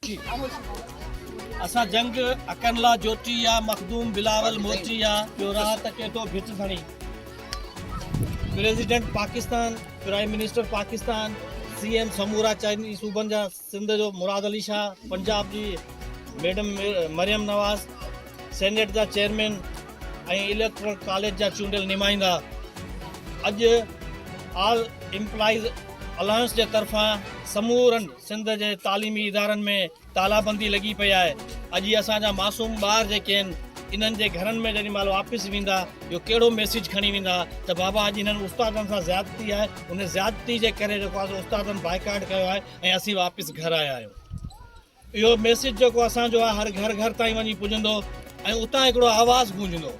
جي اسان جنگ اڪن لا جوٽي يا مخدوم بلاول موٽي يا جو راهه ته ڪيٽو ڀٽ ڌڻي president Pakistan prime minister Pakistan C M سمورا چئني صوبن جا سنڌ جو مراد علي شاهه پنجاب جي ميڊم مريم نواز سينيٽ جا چيئرمين ۽ اليڪٽرل ڪاليج جا چونڊيل نمائندا اڄ آل امپلائيز الائنس جي طرفان سمورن سنڌ جي تعليمي ادارن ۾ تالابندي لڳي پئي آهي اڄ اسان جا معصوم ٻار جيڪي آهن انهن جي گهرن ۾ جيڏي مهل واپس ويندا جو ڪهڙو ميسيج کڻي ويندا ته بابا اڄ انهن استادن سان زيادتي آهي ان زيادتي جي ڪري جيڪو آهي استادن بائيڪاٽ ڪيو آهي ۽ اسين واپس گهر آيا آهيون اهو ميسيج جيڪو اسان جو آهي هر گهر گهر تائين وڃي پڄندو ۽ اتان هڪڙو آواز گونجندو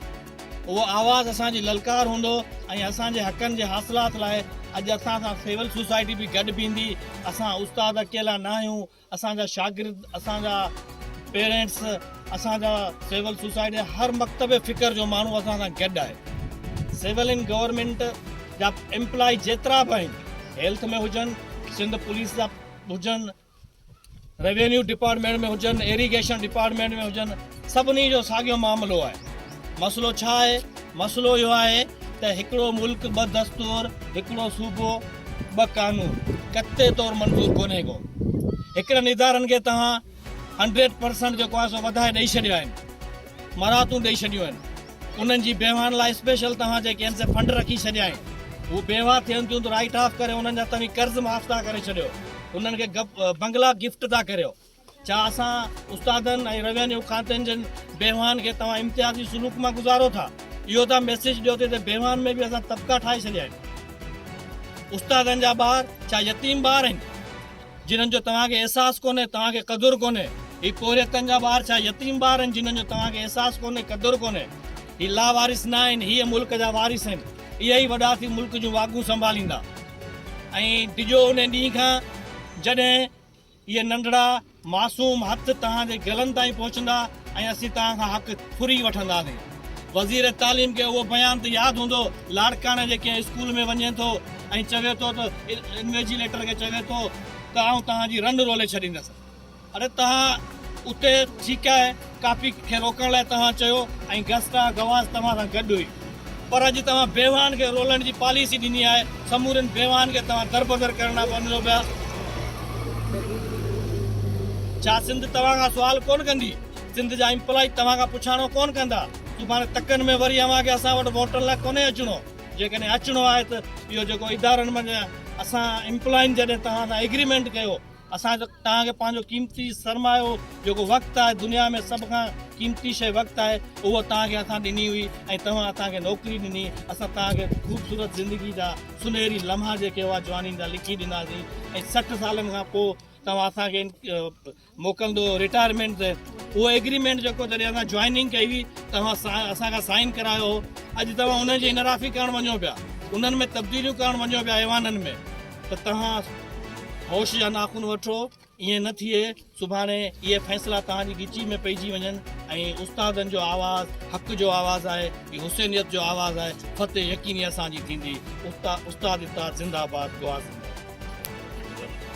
اهو آواز اسان جي للڪار هوندو ۽ اسان جي حقن جي حاصلات لاء اڄ اسان سان سول سوسائٽي به گڏ بيهندي. اسان استاد اڪيلا ناهيون، اسان جا شاگرد، اسان جا پيرينٽس، اسان جا سول سوسائٽي جا هر مڪتب فڪر جو ماڻهو اسان سان گڏ آهي. سول ۽ گورنمينٽ جا ايمپلائي جيترا به آهن، هيلٿ ۾ هجن، سنڌ پوليس جا هجن، روينيو ڊپارٽمينٽ ۾ هجن، ايريگيشن ڊپارٽمينٽ ۾ هجن، سڀني جو ساڳيو معاملو آهي. مسئلو ڇا آهي؟ مسئلو اهو آهي ته هڪڙو ملڪ ٻه دستور، هڪڙو صوبو، ٻه قانون قطعي طور منظور ڪونهي ڪو. هڪڙن ادارن کي توهان هنڊريڊ پرسنٽ جيڪو آهي سو وڌائي ڏئي ڇڏيو آهن. مراعتون ڏئي ڇڏيون آهن انهن جي بيواهن لاء اسپيشل توهان جيڪي آهن سي فنڊ رکي ڇڏيا آهن هو بيواهه ٿين ٿيون ته رائيٽ آف ڪري انهن جا توهين قرض معاف ٿا ڪري ڇڏيو انهن کي بنگلا گفٽ ٿا ڪريو ڇا اسان استادن ۽ روينيو کاتن جن بيواهن کي توهان امتيازي سلوڪ مان گذارو ٿا اهو ٿا ميسيج ڏيو ته هتي بيواهن ۾ به اسان طبقا ٺاهي ڇڏيا آهن استادن جا ٻار ڇا يتيم ٻار آهن جنھن جو توھان کي احساس ڪونھي، توھان کي قدر ڪونھي. ھي پورھيتن جا ٻار ڇا يتيم ٻار آھن جنھن جو توھان کي احساس ڪونھي، قدر ڪونھي. ھي لاوارث نه آھن، ھيء ملڪ جا وارث آھن. اھي ئي وڏا ٿي ملڪ جون واڳون سنڀاليندا. ۽ ڊڄو انھي ڏينھن کان جڏھن اھي ننڍڙا معصوم ھٿ توھان جي گلن تائين پھچندا. ۽ اسين توهان کان حق ڦري وٺنداسين. وزير تعليم کي اهو بيان ته ياد هوندو، لاڙڪاڻي جي ڪنهن اسڪول ۾ وڃي ٿو ۽ چوي ٿو ته انويجيليٽر کي چوي ٿو ته آئون توهان جي رنڊ رولي ڇڏيندس. اڙي توهان اتي ٺيڪ آهي، ڪاپي کي روڪڻ لاء توهان چيو ۽ گسٽا گواز توهان سان گڏ هئي. پر اڄ توهان بيواهن کي رولڻ جي پاليسي ڏني آهي، سمورين بيواهن کي توهان دربدر ڪرڻ ڏانهن وڃو پيا. ڇا سنڌ توهان کان سوال ڪونه ڪندي؟ سنڌ جا امپلاء توهان کان پڇاڻو ڪونه ڪندا؟ سڀاڻي تڪن ۾ وري اوهان کي اسان وٽ ووٽن لاء ڪونهي اچڻو. جيڪڏهن اچڻو آهي ته اهو جيڪو ادارن منجهان اسان امپلائن جڏهن توهان سان ايگريمينٽ ڪيو اسان جو توهان کي پنهنجو قيمتي سرمايو جيڪو وقت آهي دنيا ۾ سڀ کان قيمتي شيء وقت آهي اهو توهان کي اسان ڏني هئي ۽ توهان اسان کي نوڪري ڏني اسان توهان کي خوبصورت زندگي جا سنهري لمحا جيڪي هئا جوانين جا لکي ڏناسين ۽ سٺ سالن کان پوء توهان اسان کي موڪلندو رٽائرمينٽ تي اهو ايگريمينٽ جيڪو جڏهن اسان جوائننگ ڪئي هئي توهان اسان کان سائن ڪرايو هو اڄ توهان انهن جي انحرافي ڪرڻ وڃو پيا انهن ۾ تبديليون ڪرڻ وڃو پيا ايوانن ۾ ته توهان هوش جا ناخن وٺو، ائين نه ٿئي سڀاڻي اهي فيصلا توهان جي ڳچي ۾ پئجي وڃن ۽ استادن جو آواز حق جو آواز آهي، هي حسينيت جو آواز آهي، فتح يقيني اسان جي ٿيندي، استاد اتحاد زنده آباد، گوهر زنده آباد.